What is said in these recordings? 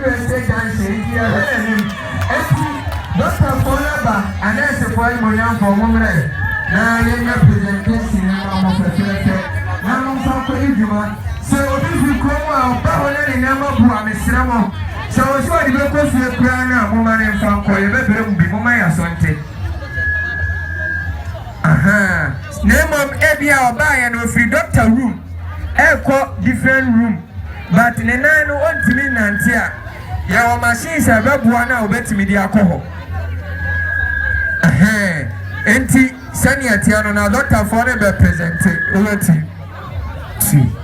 Wiase dansie nti yɛhwɛ yɛn anim. Enti, dɔktafoɔ no aba, anɛɛsefoɔ animuonyamfoɔ, mommrɛ na yɛnyɛ presentation no mma mo fɛfɛɛfɛ na momfa nkɔdi dwuma. Sɛ obi firi kurom a, ɔba hɔ na ne nneɛma bu a, mesrɛ mo, sɛ ɔwɔ sɛ ɔde bɛkɔ fie koraa no a, momma no mfa nkɔ. Yɛbɛbrɛ mo bi. Momma yɛn aso nte. Ahaa. Na mmom, ebia ɔbaeɛ no, ɔfiri dɔkta room rekɔ different room. but ne nan no ɔntumi nnante a, yɛwɔ machines a ɛbɛboa no a ɔbɛtumi de akɔ hɔ. Ɛhɛn, nti sɛnea teɛ no na dɔktafoɔ no bɛ presente wɔ ti. Ti.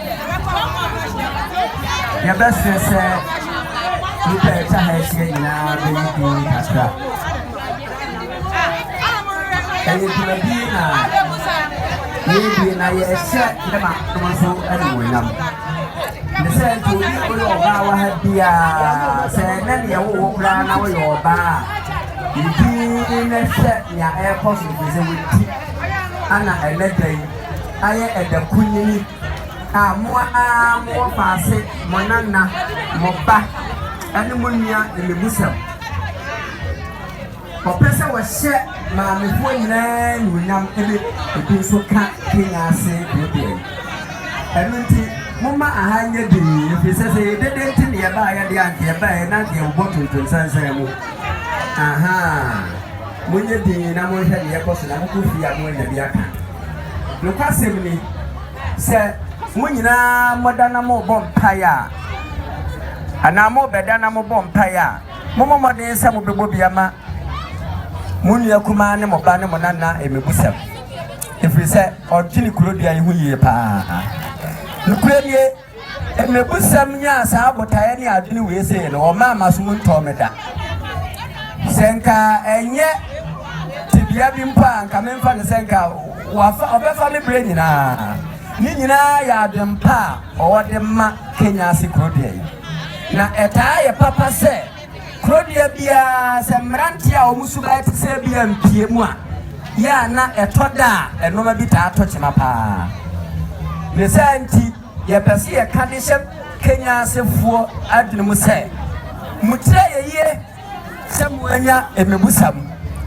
Yɛbɛsrɛ sɛ nnipa a ɛtwa ha ahyia nyinaa bɛyi din kakra. Ɛyɛ dwumadi na yɛdie na yɛhyɛ ne manom nso animuonyam. Ne sɛ nti obi a woyɛ ɔbaa wɔ ha biara sɛ ɛnɛ ne yɛwo wo koraa na woyɛ ɔbaa a yɛdin na hyɛ nea ɛrekɔ so mfiri sɛ wɔdi ana ɛnɛ da yi ayɛ ɛda kunini a mo ara mo wɔfaase, mo nana, mo ba ne mo nua mmebusɛm. Wɔpɛ sɛ wɔhyɛ maamefoɔ nyinaa animuonyam de ebi nso ka Kenya ase bereberɛ yi. Ɛno nti, momma aha nyɛ dinn ɛfiri sɛ sɛ ɛyɛ dede nti na yɛbaeɛ deɛ a anka yɛbaeɛ na anka yɛbobɔ tontom sansan mu. Ahaa, monyɛ dinn na monhwɛ deɛ ɛrekɔ so na mokɔ fie a moanya bi aka. Nokwasɛm ni, sɛ mo nyinaa moda na morebɔ mpae a, anaa morebɛda na mobɔ mpae a, mommɔ mmɔden sɛ mobɛbɔ bi ama mo nua kumaa ne mo ba ne mo nana mmebusɛm, ɛfiri sɛ ɔdwene kuro dua yi ho yie paa. Nokorɛ nie. Mmebusɛm nyaa saa botaeɛ ne adwene wei sei no, ɔmaa m'asom ntɔɔ me da. Sɛ nka ɛnyɛ tebea bi mpo a, nka memfa no sɛ nka wafa, ɔbɛfa me berɛ nyinaa. Ne nyinaa yɛ adwempa a ɔde ma Kenya ase kuro deɛ yi. Na ɛtaa yɛ papa sɛ. Kurodua biara, sɛ mmerante a wɔn suban te sɛ bi ampue mu a, yɛ a na ɛtɔ da a nneɛma bi taa tɔ kyema paa. Ne saa nti, yɛpɛ sɛ yɛka de hyɛ Kenya asefoɔ adwene mu sɛ, Mokyerɛ ayɛ yie sɛ moanya mmebusam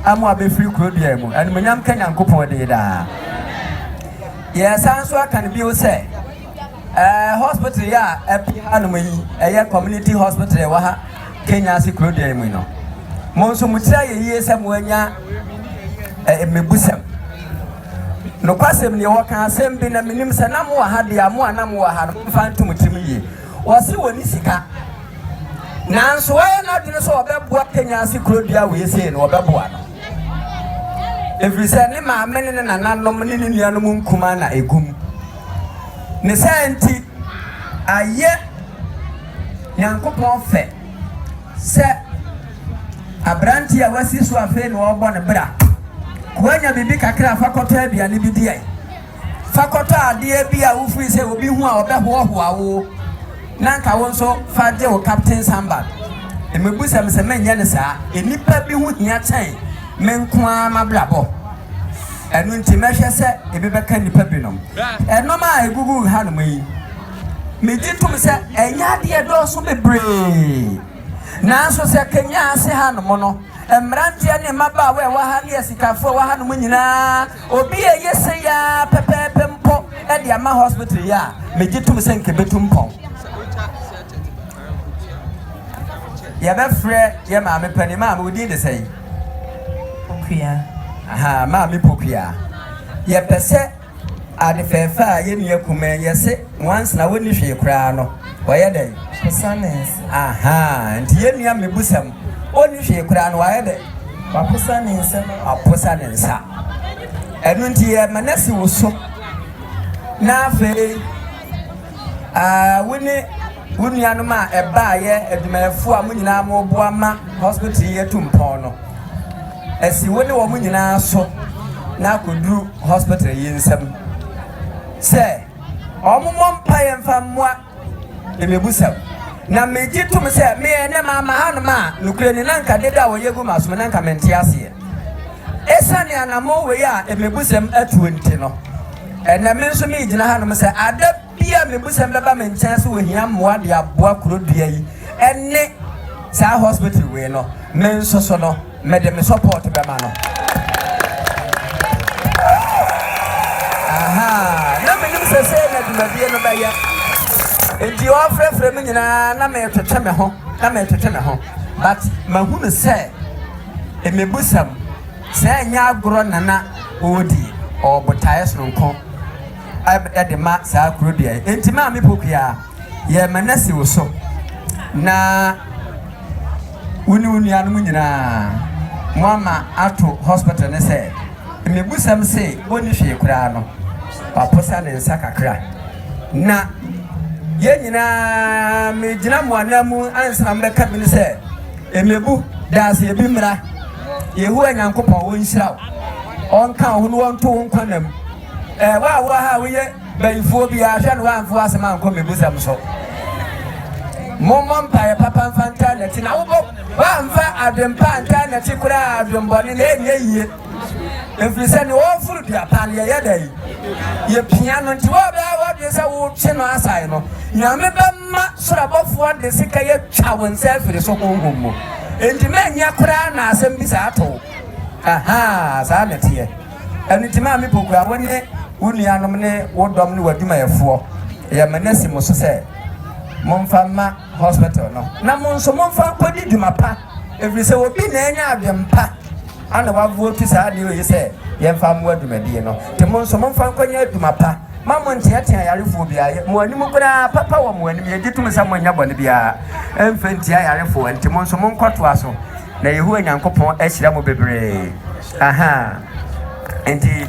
a moabɛfiri kurodua mu. Animuonyam nka Nyankopɔn din daa. Yɛresan nso aka no bio sɛ, Ɛɛ hospital yi a ɛpi ha nom yi ɛyɛ community hospital ɛwɔ ha Kenya ase kuro deɛ mu no mo nso mo tira yɛ yie sɛ mo anya ɛɛ mmebusɛm nokwasɛm ni wɔka asɛm bi na menim sɛ na mo wɔ ha deɛ mo a na mo wɔ ha no mfa nto mo tirim yie wɔsi wɔ ne sika nanso wɔyɛ n'adwene sɛ wɔbɛboa Kenya ase kuro deɛ wei sei no wɔbɛboa no ɛfiri sɛ ne maame ne ne nananom ne ne nuanom nkuma na ɛgum Ne saa nti, ayɛ Nyankopɔn fɛ sɛ aberanteɛ a wasi so afei na ɔrebɔ no bra, woanya biribi kakra fa kɔtɔ aduane bi di, fa kɔtɔ adeɛ bi a wofiri sɛ obi hu a ɔbɛhoahoa wo, na anka wo nso fa gye wo Captain Sambal. Mmebusa me sɛ menyɛ no saa, nnipa bi ho hia kyɛn me nko ara m'abrabɔ. Ɛno nti mɛhwɛ sɛ ebi bɛka nnipa binom. Ɛnom a ɛgugu hanom yi, megye tom sɛ ɛnyɛ adeɛ dɔɔso bebree. Nanso sɛ Kenya ase hanom no, mmeranteɛ ne mmabaawa a ɛwɔ ha ne asikafoɔ a ɛwɔ hanom nyinaa, obi a ɛyɛ sei ara pɛpɛɛpɛ mpo de ama hospital yi a, megye tom sɛ nka ɛbɛtu mpɔn. Yɛbɛfrɛ yɛ maame panin. Maame, wo din de sɛn? Pokua. Aha, maame Pokua. Yɛpɛ sɛ ade fɛɛfɛ a yɛ nua kuma yɛ se nwansena wɔnni hwee koraa no, wɔyɛ dɛn? Posanes. Aha, nti yɛ nua mmebusam ɔnni hwee koraa no, wɔayɛ dɛn? Waposa ne nsa. Waposa ne nsa. Ɛno nti yɛ ma no asi wo so. Na afei Wo ne wo nuanom a ɛbaeɛ, adwumayɛfoɔ a mo nyinaa moboa ma hospital yi atu mpɔn no, asi wo ne wɔn nyinaa so na akɔduru hospital yi nsam sɛ wɔmmɔ mpaeɛ mfa mmoa mmɛbusɛm. Na megye tom sɛ meɛ ne maama hanom a nokorɛ ni na nka dede a wɔyɛ gu m'asom na nka mente aseɛ. Ɛsiane anammɔn wei a mmɛbusɛm atuo nti no, Ɛnnɛ me nso megyina hanom sɛ ada bi a mebusɛm bɛba me nkyɛn sɛ wɔhia mmoa de aboa kuro dua yi ne saa hospital wei no, me nso so no mede me support bɛma no. Aha, na menim sɛ sɛ na dwumadie no bɛyɛ. Nti wɔfrɛfrɛ me nyinaa na metwetwe me ho, na metwetwe me ho. But mahunu sɛ mebusɛm. Sɛ ɛnyɛ agorɔ na na ɔredi wɔ botaeɛ sononko de ma saa kuro dua yi. Enti Maame Pokua, yɛrema no asi wo so na wo ne wo nuanom nyinaa moama ato hospital no sɛ mmebusɛm se ɔnni hwee koraa no, waposa ne nsa kakra. Na yɛn nyinaa megyina mo ananmu ansa na mobɛka bi no sɛ, Mmebu danseɛ bi mmra. Yehowa Nyankopɔn, ɔnhyira wo, ɔnka wo ho na ɔnto wo nkwa nna mu. Ɛɛ, wo a wowɔ ha a woyɛ bayifoɔ biara, hwɛ na woamfa w'asɛm ankɔ mmebusɛm so. Mommɔ mpaeɛ papa mfa ntaa nnɛte, na wobɔ, woamfa adwempa antaa nnɛte koraa a, adwembɔne na ɛnyɛ yie. Ɛfiri sɛ deɛ ɔreforo dua pa no, yɛyɛ dɛn? Yɛpia no. Nti woabɛyɛ w'adwene sɛ wotwe no asae no, Nyame bɛma soro abɔfoɔ de sekan atwa wo nsa afiri so honhom mu. Enti manyɛ koraa na asɛm bi saa ato wo? Ahaa, saa na ɛteɛ. Ɛno nti Maame Pokuaa, wo ne wo nuanom ne wo dɔm ne w'adwumayɛfoɔ, yɛ me nasi mo so sɛ momfa mma hospital no, na mo nso momfa nkɔdi dwuma pa. Ɛfiri sɛ obi na anya adwene pa ana wavotu saa adeɛ oyi sɛ yɛmfa mmoa dwumadie no. Nti mo nso momfa nkɔnyɛ adwuma pa. Mma monteatea ayarefoɔ biara. Yɛ mo anim koraa, papa wɔ mo anim. Yɛgye tom sɛ monnyɛ bɔne biara mfa ntia ayarefoɔ. Nti mo nso monkɔtoa so, na Yehowa Nyankopɔn ahyira mo bebree. Ahaa. Nti.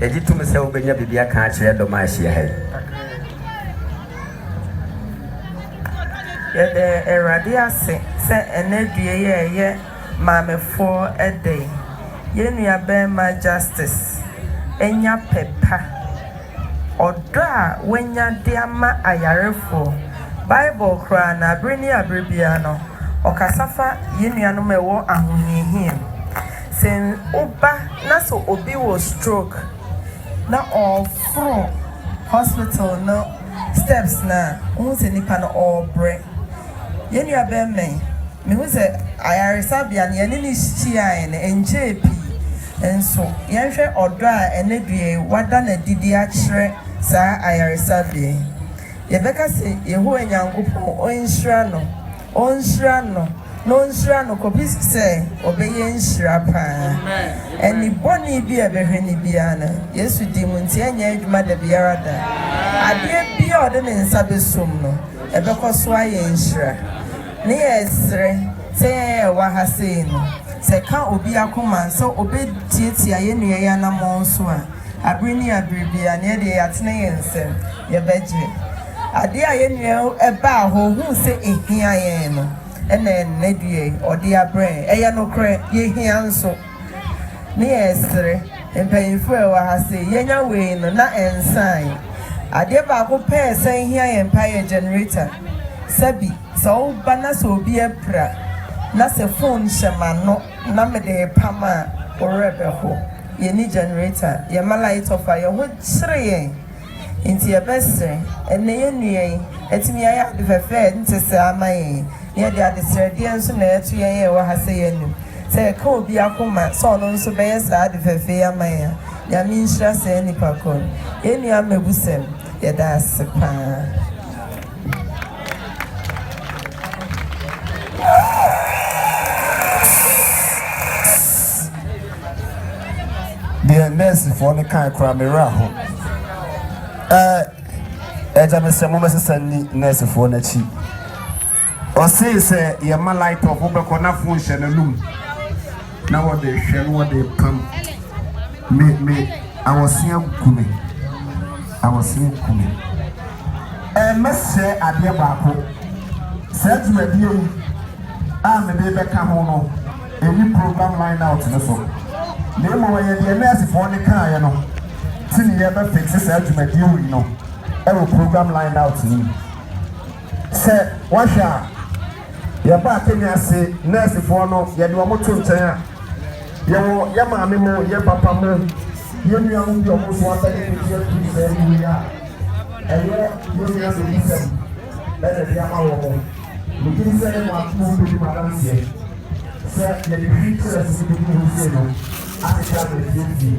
Yɛgye tom sɛ wobɛnya biribi aka akyerɛ dɔm a ahyia ha yi. Yɛda Awurade ase sɛ ɛnnɛ due yi a ɛyɛ Maamefoɔ da yi, yɛn nuabarima Justice anya pɛ pa Ɔdɔ a wanya de ama ayarefoɔ. Bible koraa no, bere ne bere biara no, ɔkasa fa yɛn nuanom a ɛwɔ ahohiahia mu. Sɛ woba na sɛ obi wɔ stroke na ɔreforo hospital no steps no a, wohu sɛ nipa no ɔrebrɛ. Yɛn nuabarimayi. Mehu sɛ ayaresabea no yɛne no hyiae no nkyɛɛ pii, nso yɛnhwɛ ɔdɔ a ɛnnɛ dua yi wɔada no adi de akyerɛ saa ayaresabea yi. Yɛbɛka sɛ Yehowa Nyankopɔn nhyira no, onhyira no, na onhyira no kɔpɛ sɛ ɔbɛyɛ nhyira paa. Ani bɔne bi a ɛbɛhwɛ no biara no, Yesu din mu nti, ɛrenyɛ adwuma da biara da. Adeɛ biara a ɔde ne nsa bɛsom no, ɛbɛkɔ so ayɛ nhyira. Ne yɛ serɛ sɛ yɛn a yɛwɔ ha sei no, sɛ ɛka obi akoma sɛ ɔbɛtiatia yɛn nua yi anammɔn so a, abere ne abere biara no, yɛdeɛ yɛatene yɛn nsam, yɛbɛgye. Adeɛ a yɛn nua yi baa hɔ, ɔhuu sɛ ɛhia yɛn no, ɛna ɛnnɛ deɛ ɔde abrɛ yɛn. Ɛyɛ nokorɛ, yɛhia nso. Ne yɛsrɛ mpanyimfo a ɛwɔ ha sɛ yɛnya wei no na ɛnsae. Adeɛ baako pɛ a ɛsan hia yɛn paa yɛ generator. Sɛbi, sɛ woba na sɛ obi apira na sɛ phone hyɛ m'ano na mede repam a, wo werɛ bɛho. Yɛnni generator. Yɛmma light off a, yɛn ho kyere yɛn. Enti yɛbɛsrɛ, ɛnnɛ yɛnnua yi, atumi ayɛ ade fɛfɛ a ɛnte saa ama yɛn yi, na yɛde adesrɛdeɛ nso na ɛreto yɛn a yɛwɔ ha sɛ yɛanu, sɛ yɛka obi akoma sɛ ɔno nso bɛyɛ saa ade fɛfɛ yi ama yɛn a, Nyame nhyira saa nnipa korɔ no. Yɛn nua Mabusɛm, yɛda ase pa ara. deɛ nɛɛsefoɔ no kae koraa me werɛ aho ɛɛ ɛgya me sɛ mobɛsesa nni nɛɛsefoɔ no akyi ɔsee sɛ yɛma light off wobɛkɔ na fo nhyɛ n'anum Na wɔde hwɛ na wɔde pam me me awɔsea ku me awɔsea ku me ɛɛ mɛsrɛ adeɛ baako saa dwumadie yi a mede bɛka ho no ɛni program line out no so na mmom ɛyɛ deɛ nɛɛsefoɔ no kaeɛ no ti ne yɛbɛ fixe saa dwumadie wei no ɛwɔ program line out no mu sɛ wahwɛ a Yɛbaa Kenya ase, nɛɛsefoɔ no, yɛde wɔn too nkyɛn a, yɛwɔ yɛn maame mu, yɛn papa mu, yɛn nuanom bi a wɔn nso abɛyɛ mfeɛ pii sɛɛ no wei a, ɛyɛ yɛn nyinaa na ɔbusɛm na ɛde ama wɔn. Megye di sɛ yɛn mmaako mu bɛdi mo adanseɛ sɛ yɛde hwii kyerɛɛ so no bɛduru hɔ sei no, asetra no afie afie.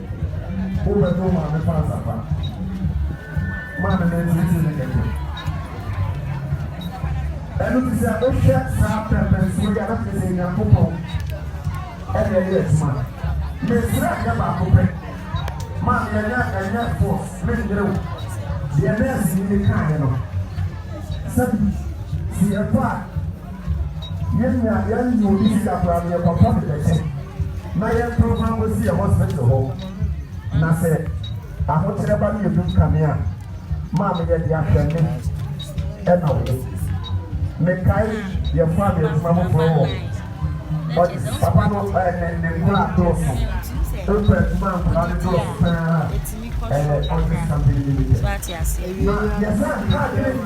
Wobɛto maame pants apa. Maame no nteetee ne kɛtɛ. Ɛno nti sɛ wohwɛ saa pɛmpɛnsoɔ yi a na kyerɛ sɛ Nyankopɔn ɛna ɛyɛ adwuma. Mesrɛ adeɛ baako pɛ, maame ɛnyɛ ɛnyɛ force mennwere wo. Deɛ nɛɛseni no kaeɛ no, sɛ sɛ yɛfa a Yɛn nua, yɛn nye obi sika koraa no, yɛkɔtɔ de bɛkyɛ na yɛnto ho akosi yɛn hospital hɔ. Na sɛ ahokyerɛ ba no yɛ dum kane a, maame yɛ de ahwɛ me ɛna wo. Mekae yɛfaa me adwuma foforɔ wɔ Odis. Papa no ɛ, ne, ne nkoraa dɔɔso. Ɔpɛ adwuma a nkoraa no dɔɔso paa ara, ɛyɛ Odis Company Limited. Na yɛsan kaa adwene.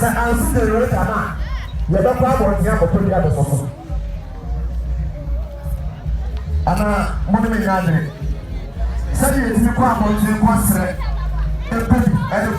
Sɛ ansi generator no a, yɛbɛkɔ abɔnten akɔtɔ bi abɛsɔ so. Anaa mo ne me nyɛ adwene? Sɛdeɛ yɛtumi kɔ abɔnten kɔsrɛ pɛ bi de